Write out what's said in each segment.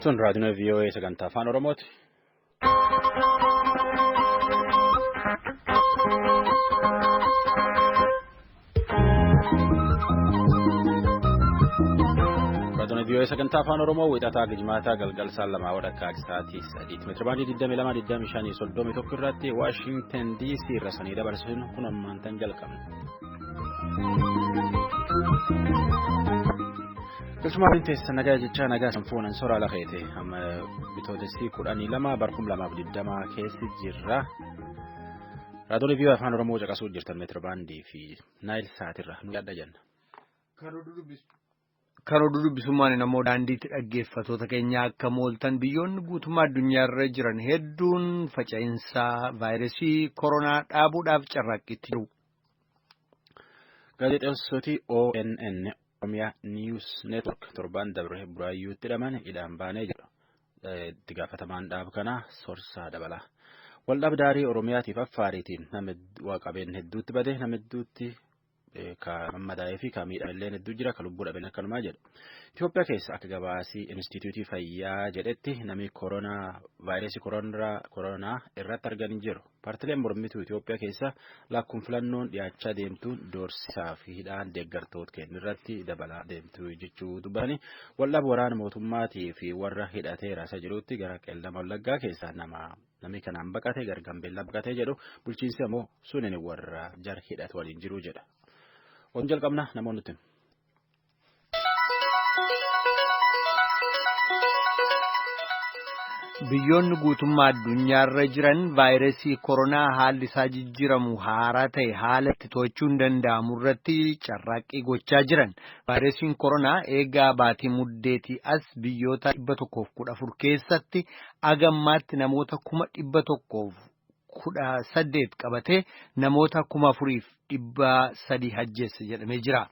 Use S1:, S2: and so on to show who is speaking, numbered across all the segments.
S1: Tun raadiyoo VOA sagantaa afaan Oromooti. Raadiyoo VOA sagantaa afaan Oromoo wixataa gijmaataa galgal saan lamaa wadhakkaa sa'aatii sadiitti meetira baandii 22 25 31 irratti Waashinten DC irra sanii dabarsuun kun ammaantan jalqabna. Keessumaa waliin teessa nagaa jechaa nagaa sanfuunan soraa lafeete amma bitootessi kudhanii lama barkum lamaaf digdamaa keessi jirra. Raadiyoolee biyya afaan Oromoo caqasuu jirtan meetira baandii fi naayil saatirra nu yaadda jenna.
S2: Kan oduu dubbisummaan namoo daandiitti dhaggeeffatoota keenya akka mooltan biyyoonni guutummaa addunyaarra jiran hedduun faca'insaa vaayirasii koronaa dhaabuudhaaf carraaqqiitti jiru.
S1: Gaazexeessoti ONN Oromiyaa News Network torbaan dabre buraayyuutti hidhaman hidhaan baanee jedhu. Itti gaafatamaan dhaaba kanaa Sorsaa Dabalaa. Waldhabdaarii Oromiyaatiif Affaariitiin nama qabeen hedduutti bade nama hedduutti ka mammadaa'ee fi ka miidhame illee hedduu jira ka lubbuu dhaben akkanumaa jedha. Itoophiyaa keessa akka gabaasii Inistiitiyuutii Fayyaa jedhetti namni koronaa vaayirasii koronaa irratti argan jiru. Paartileen mormituu Itoophiyaa keessa lakkuun filannoon dhiyaachaa deemtuun doorsisaa fi hidhaan deeggartoota kennu irratti dabalaa deemtu jechuu dubbatanii waldhaab waraana mootummaatii fi warra hidhatee raasaa jirutti gara qeellama wallaggaa keessaa nama Namni kanaan baqate gara Gambeellaa baqatee jedhu bulchiinsi ammoo sunin warra jara hidhatu waliin jiru jedha. Oon jalqabna namoonni nuti.
S2: Biyyoonni guutummaa addunyaarra jiran vaayirasii koronaa haalli isaa jijjiiramu haaraa ta'e haala itti to'achuun danda'amu irratti carraaqqii gochaa jiran. Vaayirasiin koronaa eegaa baatii muddeetii as biyyoota 114 keessatti Aga ammaatti namoota kuma dhibba tokkoof kudha saddeet qabatee namoota kuma afuriif dhibba sadii hajjeesse jedhamee jira.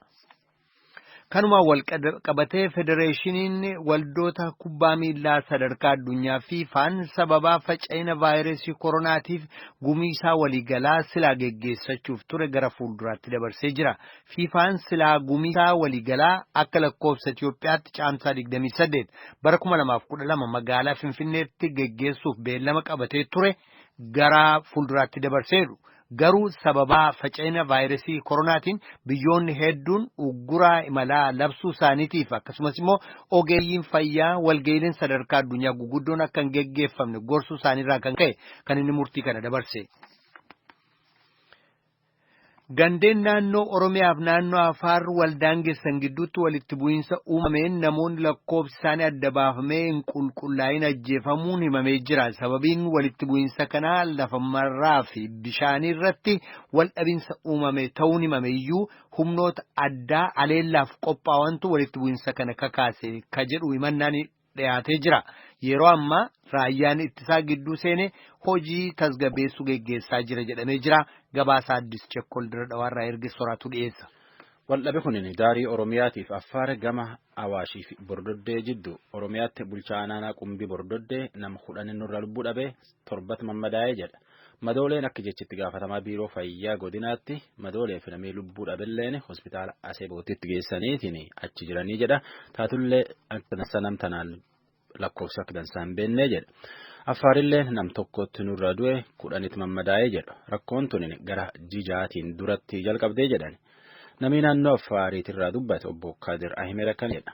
S2: Kanumaan wal qabatee federeeshiniin waldoota kubbaa miillaa sadarkaa addunyaa fiifaan sababaa faca'ina vaayirasii koronaatiif gumiisaa waliigalaa silaa geggeessachuuf ture gara fuulduraatti dabarsee jira. Fiifaan silaa gumiisaa waliigalaa akka lakkoofsa Itiyoophiyaatti Caamsaa 28 bara 2012 magaalaa Finfinneetti geggeessuuf beellama qabatee ture gara fuulduraatti dabarseeru. Garuu sababaa faca'ina vaayirasii koronaatiin biyyoonni hedduun ugguraa imalaa labsuu isaaniitiif akkasumas immoo ogeeyyiin fayyaa walga'iileen sadarkaa addunyaa guguddoon akka hin geggeeffamne gorsuu isaaniirraa kan ka'e kan inni murtii kana dabarse. Gandeen naannoo Oromiyaaf naannoo Afaar waldaangessan gidduutti walitti bu'iinsa uumameen namoonni lakkoofsi isaanii adda baafamee hin qulqullaa'in ajjeefamuun himamee jira. Sababiin walitti bu'iinsa kanaa lafa marraa fi bishaanii irratti waldhabinsa uumame ta'uun himame iyyuu humnoota addaa aleellaaf qophaawantu walitti bu'iinsa kana kakaase ka jedhu himannaan dhiyaatee jira. Yeroo ammaa raayyaan ittisaa gidduu seenee hojii tasgabeessuu geggeessaa jira jedhamee jira. Gabaasaa Addis Chekkol Dirree Dhawaarraa erge soraatu dhiyeessa. Waldhabe kunin
S1: daarii Oromiyaatiif Affaar gama Awaashii fi Bordoddee jiddu Oromiyaatti bulchaa aanaa Qumbii Bordoddee nama kudhan nurra lubbuu dhabe torbatti mammadaa'e jedha. Madooleen akka jechi itti gaafatamaa biiroo fayyaa godinaatti madoolee fi namni lubbuu dhabilleen hospitaala Aseebootitti geessaniitiin achi jiranii jedha. Taatullee akka dansaa nam tanaan lakkoofsa akka dansaa hin beennee jedha. Affaarillee nam tokkotti nurra du'e kudhanitti mammadaa'e jedha. Rakkoon tun gara jijaatiin duratti jalqabdee jedhan. Namni naannoo Affaariitirraa dubbate obbo Kaadir Ahimed akkana jedha.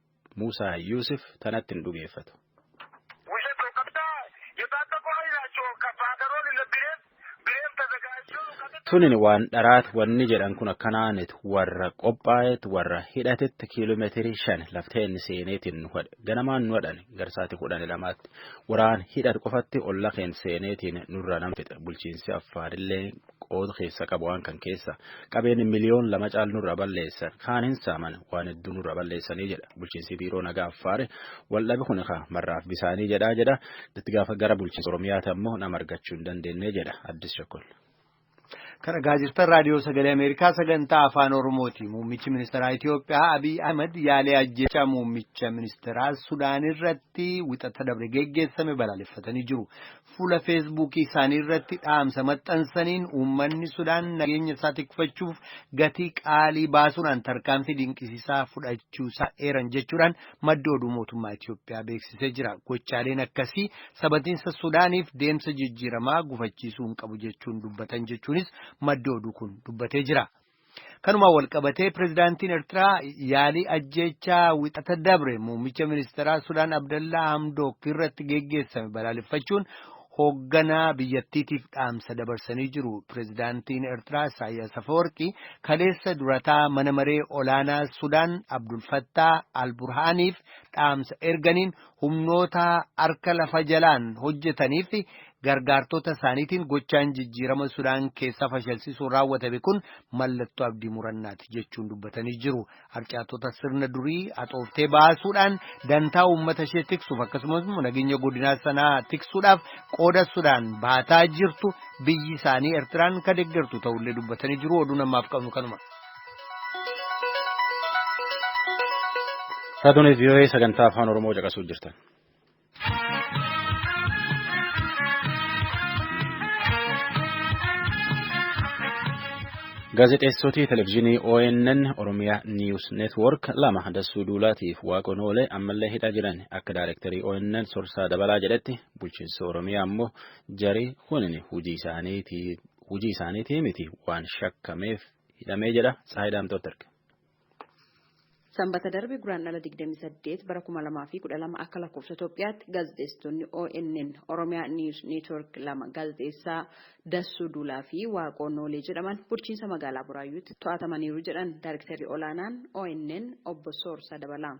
S1: Muusaa Yuusuf tanatti hin dhugeeffatu. Tunin waan dharaat wanni jedhan kun akkanaanit warra qophaa'eet warra hidhatetti kiiloomeetirii shan lafteen seeneetiin nu hadhe ganamaan nu hadhan garsaati kudhan lamaatti waraan hidhat qofatti olla keen seeneetiin nurra nama fixe bulchiinsi affaarillee qooda keessa qabu waan kan keessa qabeen miliyoon lama caal nurra balleessan kaan hin saaman waan hedduu nurra balleessanii jedha bulchiinsi biiroo nagaa affaare waldhabi kun kaa marraaf bisaanii jedhaa jedha itti gaafa gara bulchiinsa oromiyaati ammoo nama argachuu hin dandeenye jedha addis shakkol. Kana
S2: gaazexaan raadiyoo sagalee Ameerikaa sagantaa afaan Oromooti. Muummichi ministeeraa Itoophiyaa Abiy Ahmed yaalee ajjeechaa muummicha ministeeraa Sudaan irratti wixata dabre geggeessame balaaleffatanii jiru. Fuula Feesbuukii isaanii irratti dhaamsa maxxansaniin uummanni Sudaan nageenya isaa tikfachuuf gatii qaalii baasuudhaan tarkaanfii dinqisiisaa fudhachuu isaa eeran jechuudhaan maddi oduu mootummaa Itoophiyaa beeksisee jira. Gochaaleen akkasii sabatiinsa Sudaaniif deemsa jijjiiramaa gufachiisuu hin qabu jechuun dubbatan jechuunis maddi oduu kun dubbatee jira. Kanumaan walqabatee pirezidaantiin Eertiraa yaalii ajjeechaa wixata dabre muummicha ministeeraa Sudaan Abdallaa Hamdook irratti geggeessame balaaleffachuun hoogganaa biyyattiitiif dhaamsa dabarsanii jiru. Pirezidaantiin Eertiraa Isaayyaas Afawarqii kaleessa durataa mana maree olaanaa Sudaan Abdulfattaa Alburhaaniif dhaamsa erganiin humnoota harka lafa jalaan hojjetaniif fi gargaartota isaaniitiin gochaan jijjiirama Sudaan keessaa fashalsiisuun raawwatame kun mallattoo abdii murannaati jechuun dubbatanii jiru. Harcaatota sirna durii haxooftee baasuudhaan dantaa uummata ishee tiksuuf akkasumas nageenya godinaa sanaa tiksuudhaaf qooda Sudaan baataa jirtu biyyi isaanii Ertiraan ka deeggartu ta'ullee dubbatanii jiru. Oduu namaaf qabnu kanuma.
S1: Raadiyoolee vii'oo'ee sagantaa afaan Oromoo caqasuu jirtan. Gaazexeessootii televizyiinii ONN Oromiyaa Niiwus Neetwoork lama dassuu duulaatiif waaqoon oolee ammallee hidhaa jiran akka daayirektarii ONN Sorsaa Dabalaa jedhetti bulchiinsa Oromiyaa ammoo jarii kunin hojii isaaniitii miti waan shakkameef hidhamee jedha Tsahaay Daamtootti erge.
S3: Sanbata darbe Guraandhala 28 bara 2012 akka lakkoofsa Itoophiyaatti gaazexeessitoonni ONN Oromiyaa News Network lama gaazexeessaa Dassuu Duulaa fi Waaqoo Noolee jedhaman bulchiinsa magaalaa Buraayyuutti to'atamaniiru jedhan Daayrektarri Olaanaan ONN obbo Soorsaa Dabalaa.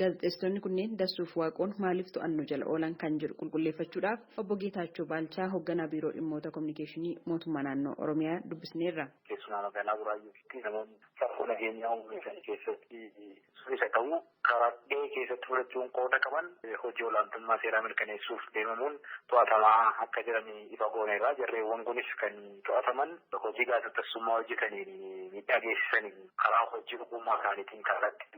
S4: Gaazexeessitoonni kunneen
S3: Dassuuf Waaqoon maaliif to'annoo jala oolan kan jedhu qulqulleeffachuudhaaf Obbo Geetaachoo Baalchaa Hogganaa Biiroo Dhimmoota Kominikeeshinii Mootummaa Naannoo Oromiyaa dubbisneerra. Keessumaa magaalaa
S4: Buraayyuutti namoonni rakkoo nageenyaa uumuu isaanii keessatti sun isa ta'uu karaa gahee keessatti fudhachuun qooda qaban hojii olaantummaa seeraa mirkaneessuuf deemamuun to'atamaa akka jiran ifa gooneerra. Jarreewwan kunis kan to'ataman hojii gaazexessummaa hojjetaniin miidhaa geessisaniin karaa hojii ogummaa isaaniitiin kallattii.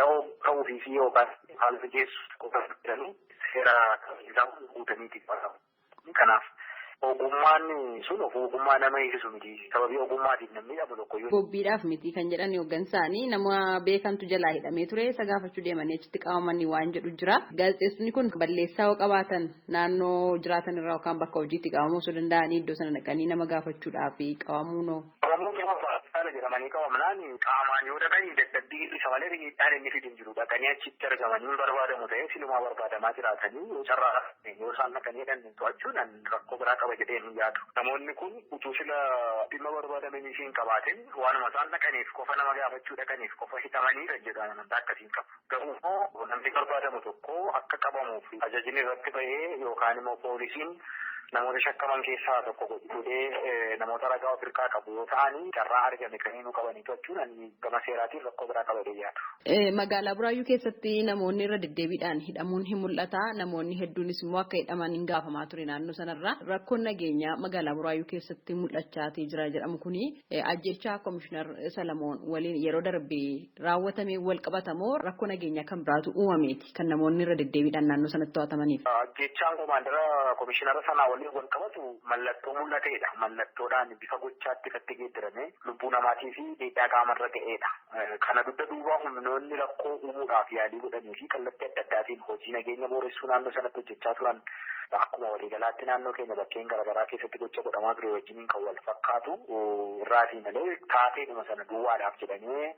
S4: da'oo ta'uufii fi yookaan haala mijeessuuf qofa jedhanii seera kabachiisaa kun guutanii itti gaafatamu. Kanaaf ogummaan sun of ogummaa nama eegsisu miti. Sababii ogummaatiin namni hidhamu tokko yoo. Bobbiidhaaf miti kan jedhan
S3: hooggansaanii nama beekantu jalaa hidhamee ture isa gaafachuu deemanii achitti qabamanii waan jedhu jira. Gaazexeessonni kun balleessaa yoo qabaatan naannoo jiraatan irraa yookaan bakka hojiitti qabamuu osoo danda'anii iddoo sana dhaqanii nama gaafachuudhaaf qabamuunoo. Oromoon
S4: yeroo baqataana jedhamanii qabamnaan qaamaan yoo dhaqanii dadhabbii hir'isa malee miidhaan inni fidu hin jiru. Dhaqanii achitti argamanii hin barbaadamu ta'ee silumaa barbaadamaa jiraatanii yoo carraa argatan yoo isaan dhaqanii hidhan to'achuun an rakkoo biraa qaba jedhee hin yaadu. Namoonni kun utuu sila dhimma barbaadamaniif hin qabaatin waanuma isaan dhaqaniif qofa nama gaafachuu dhaqaniif qofa hidhamaniiran jedhu an amantaa akkasii hin qabu. Garuummoo namni barbaadamu tokko akka qabamuuf ajajni irratti bahee yookaan immoo poolisiin namoota shakkaman keessaa tokko godhee namoota ragaa of irkaa qabu yoo ta'an carraa argame kamiinuu qabanii to'achuun ani gama seeraatiin rakkoo biraa qaba jedhee yaadu. Magaalaa Buraayyuu
S3: keessatti namoonni irra deddeebiidhaan hidhamuun hin mul'ata. Namoonni hedduunis immoo akka hidhaman hin gaafamaa ture naannoo sanarraa. Rakkoon nageenyaa magaalaa Buraayyuu keessatti mul'achaa jira jedhamu kuni ajjechaa Komishinar Salamoon waliin yeroo darbe raawwatameen walqabata moo rakkoo nageenyaa kan biraatu uumameeti kan namoonni irra deddeebiidhaan naannoo sanatti to'atamaniif? Ajjeechaan komaandara
S4: komishinara sanaa waliin walqabatu mallattoo mul'ateedha. Mallattoodhaan bifa gochaatti ifatti geeddaramee lubbuu namaatii fi miidhaa qaamarra ga'eedha. Kana dugda duuba humnoonni rakkoo uumuudhaaf yaalii godhanii fi kallattii adda addaatiin hojii nageenya booressuu naannoo sanatti hojjechaa turan akkuma waliigalaatti naannoo keenya bakkeen garagaraa keessatti gocha godhamaa ture wajjin kan wal fakkaatu irraatii malee taateedhuma sana duwwaadhaaf jedhamee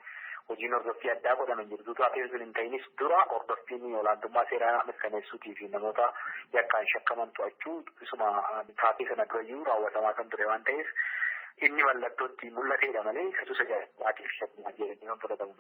S4: hojiin hordoffii addaa godhaman jirtu taateen sun hin ta'inis dura hordoffiin olaantummaa seeraa mirkaneessuutii fi namoota yakkaan shakkaman to'achuu isuma taatee sana durayyuu raawwatamaa kan ture waan ta'eef inni mallattoo ittiin mul'ateedha malee isa tusa jaallaatiif shakkumaa jedhanii kan fudhatamu.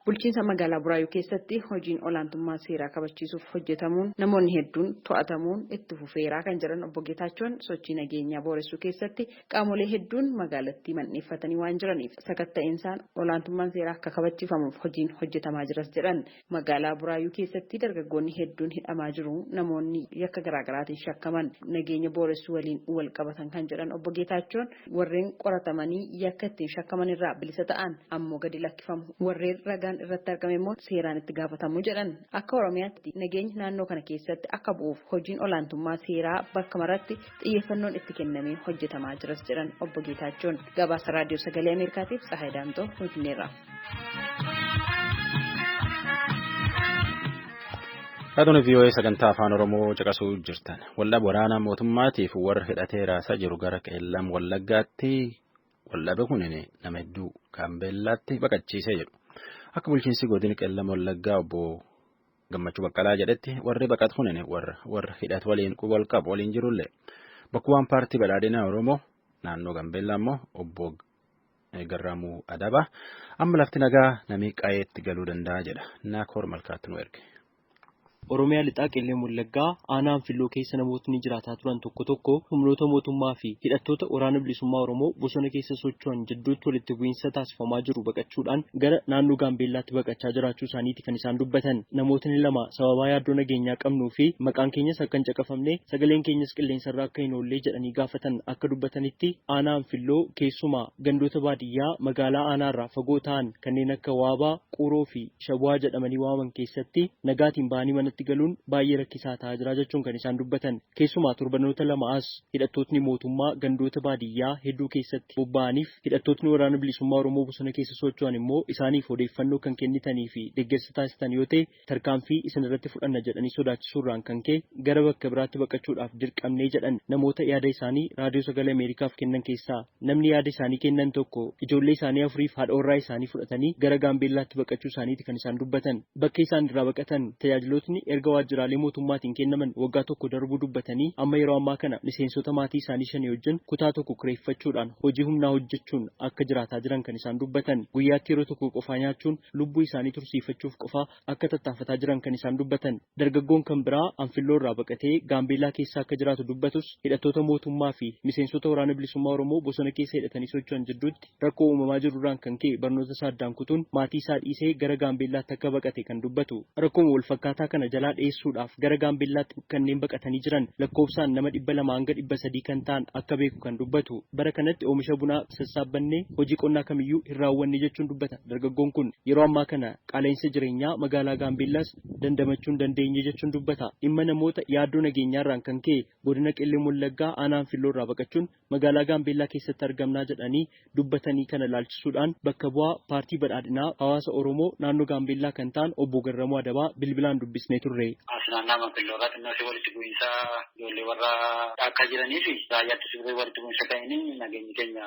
S4: Bulchiinsa Magaalaa
S3: Buraayyuu keessatti hojiin olaantummaa seeraa kabachiisuuf hojjetamuun namoonni hedduun to'atamuun itti fufeera kan jedhan Obbo Geetaachoon, sochii nageenyaa booressuu keessatti qaamolee hedduun magaalattii mandheeffatanii waan jiraniif sakatta'iinsaan olaantummaan seeraa akka kabachiifamuuf hojiin hojjetamaa jiras jedhan. Magaalaa Buraayyuu keessatti dargaggoonni hedduun hidhamaa jiru, namoonni yakka garaagaraatiin shakkaman nageenya booressuu waliin walqabatan kan jedhan Obbo Geetaachoon, Warreen qoratamanii yakka ittiin shakkaman irraa bilisa ta'an ammoo gadi lakkifamu. Warreen ragaan irratti argame immoo seeraan itti gaafatamu jedhan. Akka Oromiyaatti nageenyi naannoo kana keessatti akka bu'uuf hojiin olaantummaa seeraa bakka maratti xiyyeeffannoon itti kennamee hojjetamaa jiras jedhan Obbo Geetaachoon. Gabaasa Raadiyoo Sagalee Ameerikaatiif Tsahaay Daamxoo Finfinneerraa.
S1: Raadiyoo VOA sagantaa afaan Oromoo caqasuu jirtan. Waldhaba waraanaa mootummaatiif warra hidhatee raasaa jiru gara qeellam wallaggaatti waldhabe kun nama hedduu gaambeellaatti baqachiisee jedhu. Akka bulchiinsi godina qeellam wallaggaa obbo Gammachuu Baqqalaa jedhetti warri baqatu kun warra hidhatu waliin wal qabu waliin jirullee bakkuwwan paartii badhaadhinaa Oromoo naannoo Gaambeellaa immoo obbo garraamuu adaba amma lafti nagaa namii qayeetti galuu danda'a jedha naakoor malkaatti nu erge. Oromiyaa
S5: lixaa qillee Wallaggaa aanaa Anfilloo keessa namootni jiraataa turan tokko tokko humnoota mootummaa fi hidhattoota waraana bilisummaa Oromoo bosona keessa socho'an jidduutti walitti bu'iinsa taasifamaa jiru baqachuudhaan gara naannoo Gaambeellaatti baqachaa jiraachuu isaaniiti kan isaan dubbatan. Namootni lama sababaa yaaddoo nageenyaa qabnuu fi maqaan keenyas akka hin caqafamne sagaleen keenyas qilleensarra akka hin oollee jedhanii isaanii gaafatan akka dubbatanitti, aanaa Anfilloo keessumaa gandoota baadiyyaa magaalaa aanaarraa fagoo ta'an kanneen akka Waabaa, Quuroo fi Shabuwaa jedhamanii waamaman keessatti nagaatiin bahanii manatti galuun baay'ee rakkisaa ta'aa jira jechuun kan isaan dubbatan. Keessumaa torbanoota lama as hidhattootni mootummaa gandoota baadiyyaa hedduu keessatti bobba'aniif hidhattootni Waraana Bilisummaa Oromoo bosona keessa socho'an immoo isaaniif odeeffannoo kan kennitanii fi deggersa taasistan yoo ta'e tarkaanfii isinirratti fudhanna jedhanii sodaachisuurraan kan ka'e gara bakka biraatti baqachuudhaaf dirqamne jedhan namoota yaada isaanii Raadiyoo Sagalee Ameerikaaf kennan keessaa namni yaada isaanii kennan tokko ijoollee isaanii afuriif haadha warraa isaanii fudhatanii gara Gaambeellaatti baqachuu isaaniiti kan isaan dubbatan. Bakka isaan irraa baqatan tajaajilootni erga waajjiraalee mootummaatiin kennaman waggaa tokko darbuu dubbatanii amma yeroo ammaa kana miseensota maatii isaanii shanii wajjin kutaa tokko kireeffachuudhaan hojii humnaa hojjechuun akka jiraataa jiran kan isaan dubbatan. Guyyaatti yeroo tokko qofaa nyaachuun lubbuu isaanii tursiifachuuf qofaa akka tattaafataa jiran kan isaan dubbatan. Dargaggoon kan biraa Anfilloo irraa baqatee Gaambeellaa keessa akka jiraatu dubbatus hidhattoota mootummaa fi miseensota Waraana Bilisummaa Oromoo bosona keessa hidhatanii socho'an jidduutti rakkoo uumamaa jiru irraan kan ka'e barnoota isaa addaan kutuun maatii isaa dhiisee gara Gaambeellaatti akka baqate kan dubbatu. Rakkooma wal fakkaataa kana jalaa dheessuudhaaf gara Gaambeellaatti kanneen baqatanii jiran lakkoofsaan nama 200-300 kan ta'an akka beeku kan dubbatu. Bara kanatti oomisha bunaa sassaabbannee hojii qonnaa kamiyyuu hin raawwanne jechuun dubbata. Dargaggoon kun yeroo ammaa kana qaala'insa jireenyaa magaalaa Gaambeellaas dandamachuu hin dandeenye jechuun dubbata. Dhimma namoota yaaddoo nageenyaarraan kan ka'e godina Qellem Wallaggaa aanaa Anfilloorraa baqachuun magaalaa Gaambeellaa keessatti argamnaa jedhanii dubbatanii kana ilaalchisuudhaan bakka bu'aa paartii badhaadhinaa hawaasa Oromoo naannoo Gaambeellaa kan ta'an obbo Garramuu Adabaa bilbilaan dubbisnee turre. As naannaa
S4: Manfilloorraa xinnoo ishee walitti bu'iinsa ijoollee warra dhaakkaa jiraniifi raayyaa ittisa biyyaa walitti bu'iinsa ka'eenii nageenyi keenya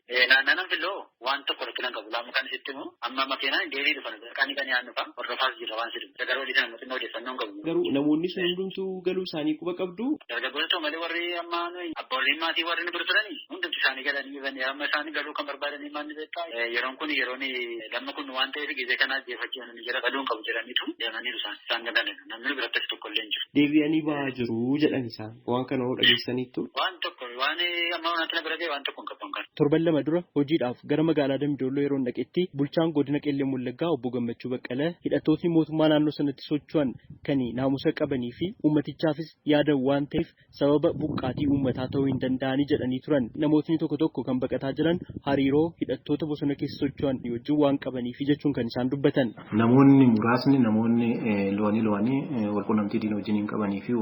S5: Naannaan filoo
S4: waan tokko rakkina hin qabu laamu kan sitti himu amma makeenaan deebii dhufan qanii qanii aan dhufan hordofaas jirra waan sitti himu garuu dhiisan mootummaa odeeffannoo hin qabu. Garuu namoonni sun hundumtuu
S5: galuu isaanii quba qabdu. Dargaggoota ta'u malee warri
S4: amma nuyi abboolliin maatii warri nu bira turani hundumti isaanii galanii jiran amma isaanii galuu kan barbaadanii maal ni beektaa yeroon kun yeroon damma kun waan ta'eef gizee kana ajjeefachuu Jara baduu hin qabu jedhaniitu deemaniiru isaan. Isaan ni lallana. Namni biratti hafe tokko illee hin jiru. Deebi'anii ba'aa jiru
S5: jedhan isaan. Waan kana hoo dhageessaniittuu? Waan tokko waan
S4: amma wanaatti na bira ga'e waan tokko hin qabu an kana. Torban lama dura hojiidhaaf
S5: gara magaalaa Dambi Doolloo yeroon dhaqetti bulchaan godina Qellem Wallaggaa obbo Gammachuu Baqqala hidhattootni mootummaa naannoo sanatti socho'an kan naamusa qabanii fi uummatichaafis yaadan waan ta'eef sababa buqqaatii uummataa ta'uu hin danda'ani jedhanii turan. Namootni tokko tokko kan baqataa jiran hariiroo hidhattoota bosona keessa socho'an wajjin waan qabaniifi jechuun kan isaan dubbatan. Namoonni muraasni
S6: namoonni lo'anii lo'anii walqunnamtii diina wajjiniin qabanii fi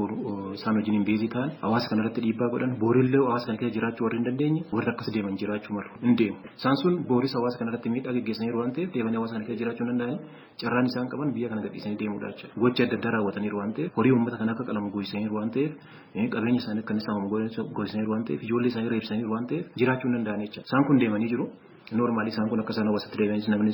S6: isaan wajjiniin beezii ta'an hawaasa kana irratti dhiibbaa godhan boorillee hawaasa kana keessa jiraachuu warri hin dandeenye warri akkas deeman jiraachuu malu hin deemu. Isaan sun booris hawaasa kana irratti miidhaa geggeessaniiru waan ta'eef deebanii hawaasa kana keessa jiraachuu hin danda'ani. carraan isaan qaban biyya kana gadhiisanii deemuudha jechuudha. Gocha adda addaa raawwataniiru waan ta'eef, horii uummata kana akka qalamu goosisaniiru waan ta'eef, qabeenya isaanii akka inni saamamu goosisaniiru waan ta'eef, ijoollee isaanii reebsaniiru waan ta'eef jiraachuu hin danda'an jechuudha. Isaan kun deemanii jiru. Noormaalii isaan kun akka isaan hawaasatti deebi'anis namni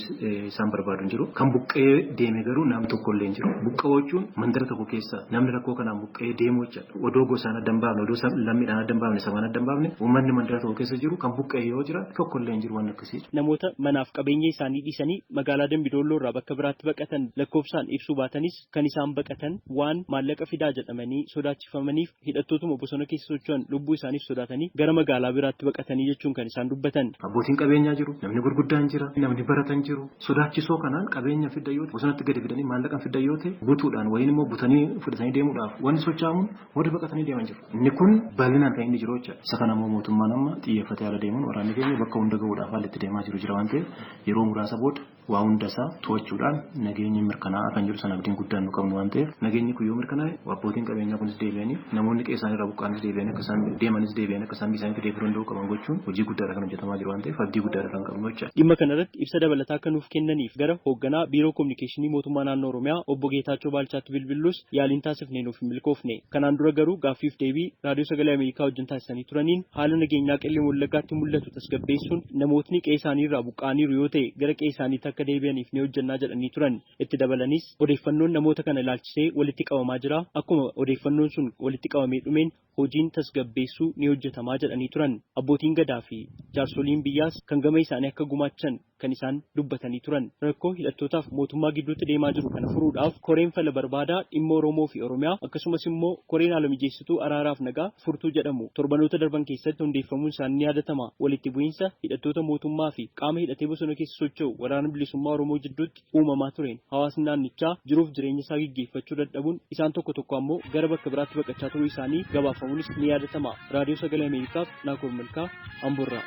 S6: isaan barbaadu hin jiru. Kan buqqa'ee deeme garuu nam tokko illee hin jiru. Buqqa'uu jechuun mandara tokko keessa namni rakkoo kanaan buqqa'ee deemuu jechuudha. Odoo gosaan adda hin baafne, odoo lammiidhaan adda hin baafne, sabaan adda hin baafne uummanni mandara tokko keessa jiru kan buqqa'e yoo jiraate tokko illee hin jiru waan Namoota manaaf qabeenya
S5: isaanii dhiisanii magaalaa Dambi Doolloo irraa bakka biraatti baqatan lakkoofsaan ibsuu baatanis kan isaan baqatan waan maallaqa fidaa jedhamanii sodaachifamaniif hidhattootuma bosona keessa socho'an lubbuu isaaniif sodaatanii gara magaalaa biraatti baqatanii jechuun kan isaan dubbatan. Abbootiin qabeenyaa jiru,
S6: namni gurguddaan jira, namni baratan jiru. Sodaachisoo kanaan qabeenya fiddan yoo ta'e bosonatti gadi fidanii maallaqa fiddan yoo ta'e butuudhaan wayiin immoo butanii fudhatanii deemuudhaaf wanti sochaa'amuun warri baqatanii deeman jiru. Inni kun bal'inaan kan inni jiru jechuudha. Isa kana immoo mootummaan amma xiyyeeffatee ala deemuun waraanni keenya bakka hunda gahuudhaaf haalli itti deemaa jiru jira waan ta'eef yeroo muraasa booda waa hunda isaa to'achuudhaan nageenyi mirkanaa'aa kan jedhu sana abdiin guddaan nu qabnu waan ta'eef nageenyi kun yoo mirkanaa'e abbootiin qabeenyaa kunis deebi'anii namoonni qe'ee isaanii irraa buqqa'anis deebi'anii akka isaan deemanis deebi'anii akka isaan biyya isaaniitti deebi'uu danda'uu qaban gochuun hojii guddaadha kan hojjetamaa jiru waan ta'eef abdii guddaadha kan qabnu jechuudha. Dhimma kana irratti ibsa dabalataa
S5: akka nuuf kennaniif gara hoogganaa Biiroo Kominikeeshinii Mootummaa Naannoo Oromiyaa Obbo Geetaachoo Baalchaatti bilbillus Yaaliin taasifne nuuf hin milkoofne. Kanaan dura garuu gaaffiif deebii Raadiyoo Sagalee Ameerikaa wajjin taasisanii turaniin haala nageenyaa Qellem Wallaggaatti mul'atu tasgabbeessuun namootni qe'ee isaanii irraa buqqa'aniiru yoo ta'e gara qe'ee isaaniitti akka deebi'aniif ni hojjennaa jedhanii turan. Itti dabalaniis, odeeffannoon namoota kana ilaalchisee walitti qabamaa jira. Akkuma odeeffannoon sun walitti qabamee dhumeen hojiin tasgabbeessuu ni hojjetamaa jedhanii turan. Abbootiin Gadaa fi jaarsoliin biyyaas kan gama isaanii akka gumaachan kan isaan dubbatanii turan. Rakkoo hidhattootaaf mootummaa gidduutti deemaa jiru kana furuudhaaf koreen fala barbaadaa dhimma Oromoo fi Oromiyaa akkasumas immoo koreen haala mijeessituu araaraaf nagaa furtuu jedhamu torbanoota darban keessatti hundeeffamuun isaanii ni yaadatama. Walitti bu'iinsa hidhattoota mootummaa fi qaama hidhatee bosona keessa socho'u Waraana Bilisummaa Oromoo jidduutti uumamaa tureen hawaasni naannichaa jiruuf jireenya isaa geggeeffachuu dadhabuun isaan tokko tokko ammoo gara bakka biraatti baqachaa turuu isaanii gabaafamuunis ni yaadatama. Raadiyoo Sagalee Ameerikaaf Naakoor Malkaa Amborraa.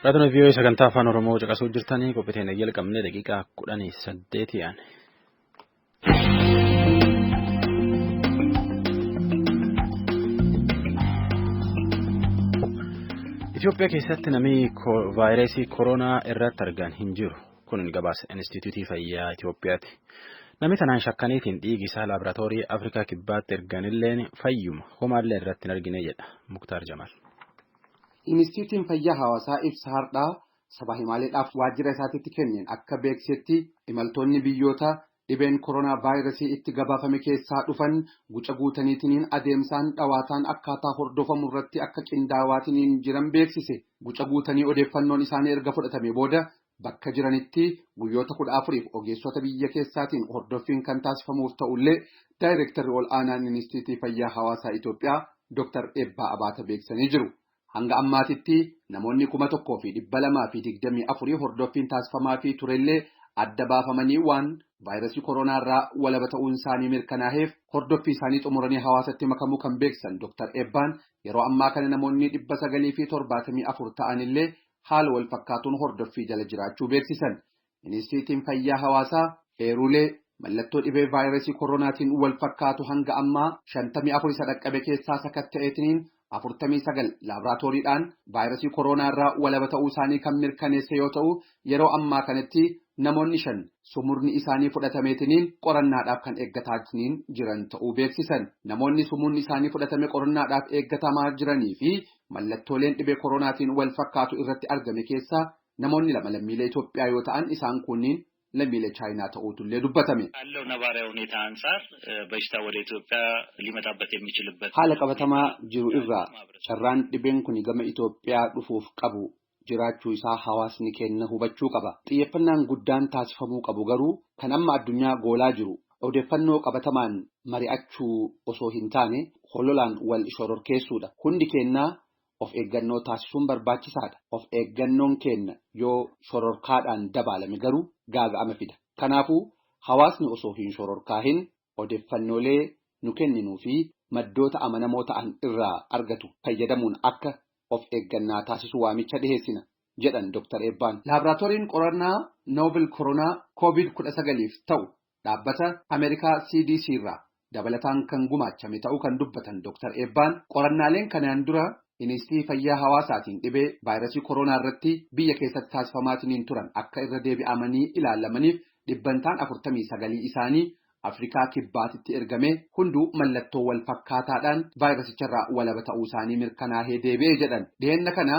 S1: Raadiyoo VOA sagantaa afaan Oromoo caqasuu jirtanii qophii teenya jalqabnee daqiiqaa kudhanii saddeetii aane. Itoophiyaa keessatti namni vaayirasii koronaa irratti argan hin jiru. Kun gabaasa Inistituutii Fayyaa Itoophiyaati. Namni tanaan shakkaniitiin dhiigi isaa laaboraatoorii Afrikaa Kibbaatti erganilleen fayyuma homaallee irratti hin argine jedha Muktaar Jamaal.
S7: Inistituutiin Fayyaa Hawaasaa ibsa hardhaa Sabaa himaaleedhaaf waajjira isaatitti kenneen akka beeksisetti imaltoonni biyyoota dhibeen koronaa vaayirasii itti gabaafame keessaa dhufan guca guutaniitiniin adeemsaan dhawaataan akkaataa hordofamu irratti akka qindaawaatiniin jiran beeksise. Guca guutanii odeeffannoon isaanii erga fudhatamee booda bakka jiranitti guyyoota 14f ogeessota biyya keessaatiin hordoffiin kan taasifamuuf ta'ullee Daayreektarri Ol'aanaan Inistiitii Fayyaa Hawaasaa Itoophiyaa Dr. Eebbaa Abaata beeksisanii jiru. Hanga ammaatitti namoonni 1,224 hordoffiin taasifamaafii turellee adda baafamanii waan vaayrasii koronaarraa walaba ta'uunsaanii mirkanaaheef hordoffiisaanii xumuranii hawaasatti makamuu kan beeksisan Dr. Eebbaan, yeroo ammaa kana namoonni 974 ta'anillee haala walfakkaatuun hordoffii jala jiraachuu beeksisan. Inistiitiin Fayyaa Hawaasaa eeruulee mallattoo dhibee vaayirasii koroonaatiin wal fakkaatu hanga ammaa 54 isa dhaqqabe keessaa sakatta'eetiniin 49 laabraatooriidhaan vaayirasii koroonaa irraa walaba ta'uu isaanii kan mirkaneesse yoo ta'u, yeroo ammaa kanatti namoonni shan sumurni isaanii fudhatameetiniin qorannaadhaaf kan eeggataatiniin jiran ta'uu beeksisan. Namoonni sumuunni isaanii fudhatame qorannaadhaaf eeggatamaa jiranii fi mallattooleen dhibee koroonaatiin wal fakkaatu irratti argame keessaa Namoonni lama lammiilee Itoophiyaa yoo ta'an isaan kuunniin lammiilee Chaayinaa ta'uutullee dubbatame.
S8: Haala qabatamaa
S7: jiru irraa carraan dhibeen kuni gama Itoophiyaa dhufuuf qabu jiraachuu isaa hawaasni keenna hubachuu qaba. Xiyyeffannaan guddaan taasifamuu qabu garuu kan amma addunyaa goolaa jiru odeeffannoo qabatamaan mari'achuu osoo hin taane hololaan wal shororkeessuudha. Hundi keennaa of eeggannoo taasisuun barbaachisaadha. Of eeggannoon keenna yoo shororkaadhaan dabaalame garuu gaaga'ama fida. Kanaafuu hawaasni osoo hin shororkaahin odeffannoolee nu kenninuu fi maddoota amanamoo ta'an irraa argatu fayyadamuun akka of eeggannaa taasisu waamicha dhiheessina, jedhan Dr. Eebbaan. Laabraatooriin qorannaa Novel Koronaa Covid 19f ta'u Dhaabbata Ameerikaa CDC irraa dabalataan kan gumaachame ta'uu kan dubbatan Doktar Eebbaan, qorannaaleen kanaan dura Iniistii Fayyaa Hawaasaatiin dhibee vaayrasii koroonaa irratti biyya keessatti taasifamaatiniin turan akka irra deebi'amanii ilaalamaniif dhibbantaan 49 isaanii Afrikaa Kibbaatitti ergamee hunduu mallattoo wal fakkaataadhaan vaayrasicharraa walaba ta'uusaanii mirkanaahee deebi'e jedhan. Dhiheenna kana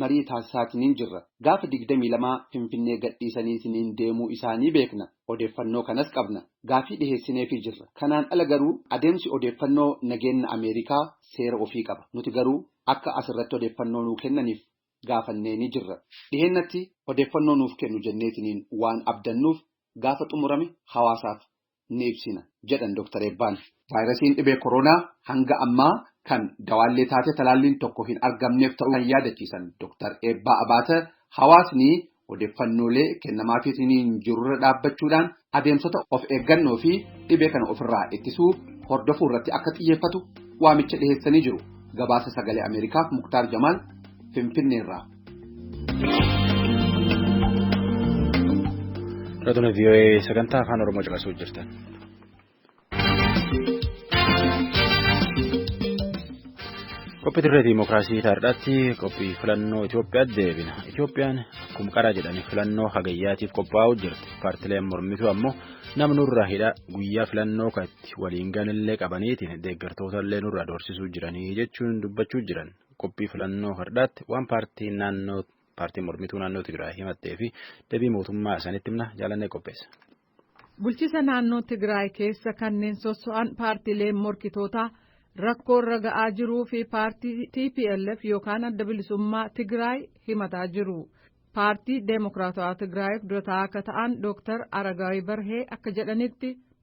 S7: marii taasisaatiniin jirra. Gaafa 22 Finfinnee gadhiisaniitiniin deemuu isaanii beekna. Odeeffannoo kanas qabna. Gaafii dhiheessineefii jirra. Kanaan ala garuu adeemsi odeeffannoo nageenna Ameerikaa seera ofii qaba. Nuti garuu akka as irratti odeeffannoo nuu kennaniif gaafanneenii jirra. Dhiheennatti odeeffannoo nuuf kennu jenneetiniin waan abdannuuf gaafa xumurame hawaasaaf ni ibsina jedhan Doktar Eebbaan. Vaayirasiin dhibee koroonaa hanga ammaa kan dawaallee taatee talaalliin tokko hin argamneef ta'uu kan yaadachiisan Doktar Eebbaa Abaata, hawaasni odeeffannoolee kennamaafiitiin jirurra dhaabbachuudhaan adeemsota of eeggannoo fi dhibee kana ofirraa ittisuu hordofuu irratti akka xiyyeeffatu waamicha dhiheessanii jiru. Gabaasa Sagalee Ameerikaaf Muktaar Jamaal Finfinneerraa.
S1: Raadiyoo VOA sagantaa afaan Oromoo caqasuu jirtan. Qophii dirree Dimookiraasii taardaatti qophii filannoo Itoophiyaatti deebina. Itoophiyaan akkuma qaraa jedhanii filannoo hagayyaatiif qophaa'uu jirti. Paartileen mormituu ammoo nama nurraa hidhaa guyyaa filannoo kanatti waliin ganillee qabaniitiin deeggartoota illee nurraa doorsisuu jiranii jechuun dubbachuu jiran. qophii filannoo hardhaatti waan paartiin naannoo paartiin mormituu naannoo Tigraay himattee fi deebii mootummaa isaanitti himna jaalannee qopheessa. Bulchisa
S9: naannoo Tigraay keessa kanneen sosso'an paartiileen morkitootaa rakkoo irra ga'aa jiruu fi paartii TPLF yookaan adda bilisummaa Tigraay himataa jiru. Paartii Deemokiraatawaa Tigraayiif durataa akka ta'an Dooktar Aragaawii Barhee akka jedhanitti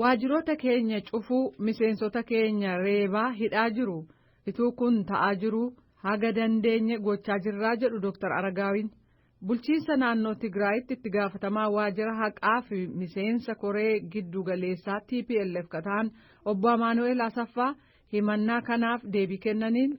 S2: Waajjiroota
S9: keenya cufuu miseensota keenya reebaa hidhaa jiru. Ituu kun ta'aa jiruu haga dandeenye gochaa jirraa jedhu Dr. Aragaawiin. Bulchiinsa naannoo Tigraayitti itti gaafatamaa waajjira haqaa fi miseensa koree giddu galeessaa TPLF ka ta'an obbo Amaanu'eel Asaffaa himannaa kanaaf deebii kennaniin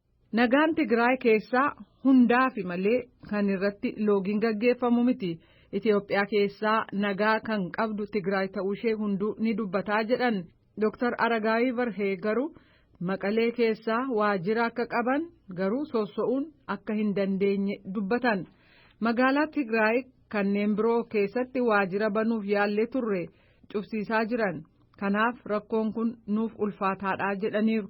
S2: Nagaan
S9: Tigraay keessaa hundaafi malee kan irratti loogiin gaggeeffamu miti. Itoophiyaa keessaa nagaa kan qabdu Tigraay ta'uushee hunduu ni dubbataa jedhan Dr. Aragaawii Barhee garuu Maqalee keessaa waajjira akka qaban garuu sosso'uun akka hin dandeenye dubbatan. Magaalaa Tigraay kanneen biroo keessatti waajjira banuuf yaallee turre cufsiisaa jiran. Kanaaf rakkoon kun nuuf ulfaataadha jedhaniiru.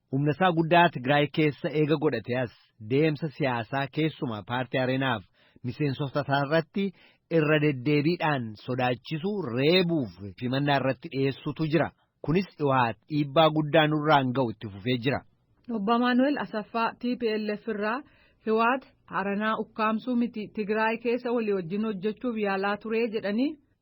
S2: Humna isaa guddaa Tigraay keessa eega godhatee as deemsa siyaasaa keessumaa paartii Areenaaf miseensota isaa irratti irra deddeebiidhaan sodaachisuu, reebuuf himannaa irratti dhiyeessuutu jira. Kunis Iwahaat dhiibbaa guddaa nurraan ga'u itti fufee jira. Obbo Amaanu'el
S9: Asaffaa tplf irraa Hiwaat Aranaa ukkaamsuu miti Tigraay keessa walii wajjin hojjechuuf yaalaa turee jedhanii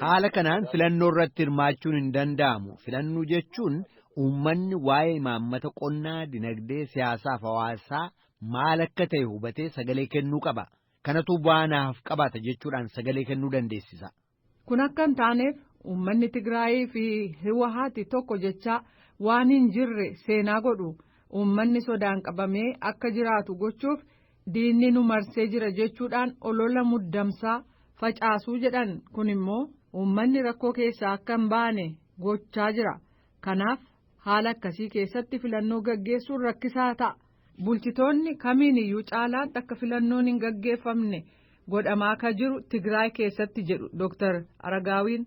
S10: Haala kanaan
S2: filannoo irratti hirmaachuun hin danda'amu. Filannoo jechuun uummanni waa'ee imaammata qonnaa, dinagdee, siyaasaa fi hawaasaa maal akka ta'e hubatee sagalee kennuu qaba. Kanatu bu'aa naaf qabaata jechuudhaan sagalee kennuu dandeessisa. Kun akka hin
S9: taaneef uummanni Tigraayii fi Hiwahaati tokko jechaa waan hin jirre seenaa godhu. Uummanni sodaan qabamee akka jiraatu gochuuf Diinni nu marsee jira jechuudhaan olola muddamsaa facaasuu jedhan kun immoo uummanni rakkoo keessaa akka hin baane gochaa jira. Kanaaf haala akkasii keessatti filannoo gaggeessuun rakkisaa ta'a. Bulchitoonni kamiin iyyuu caalaatti akka filannoon hin gaggeeffamne godhamaa ka jiru Tigraay keessatti jedhu Dooktar Aragaawiin.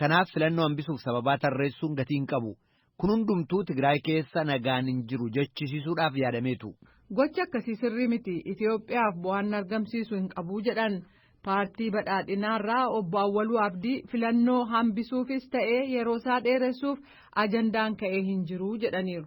S2: Kanaaf filannoo hambisuuf sababaa tarreessuun gatii hin qabu. Kun hundumtuu Tigraay keessa nagaan hin jiru jechisiisuudhaaf yaadameetu. Gochi akkasii
S9: sirrii miti. Itiyoophiyaaf bu'aan argamsiisu hin qabu jedhan. Paartii badhaadhinaarraa obbo Awwaluu Abdii filannoo hambisuufis ta'ee yeroosaa dheeressuuf ajandaan ka'ee hin jiru jedhaniiru.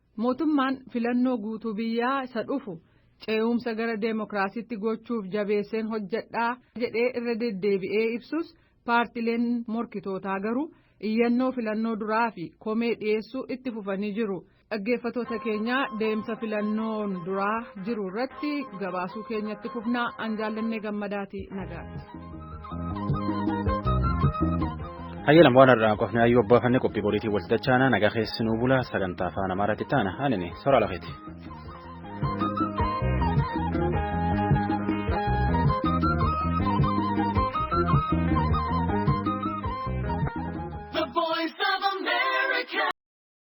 S9: Mootummaan filannoo guutuu biyyaa isa dhufu ce'umsa gara deemokiraasiitti gochuuf jabeesseen hojjedha jedhee irra deddeebi'ee ibsus paartileen morkitootaa garuu iyyannoo filannoo duraa fi komee dhiyeessuu itti fufanii jiru. Dhaggeeffatoota keenyaa deemsa filannoon duraa jiru irratti gabaasuu keenyatti fufnaa an jaallannee gammadaati nagaatti.
S1: Hayyalam waan har'aa qofni ayyuu abbaa fannee qophii boriitiin wal dachaana nagaa keessi nuu bula sagantaa afaan amaaraatti taana anini soraa lafeeti.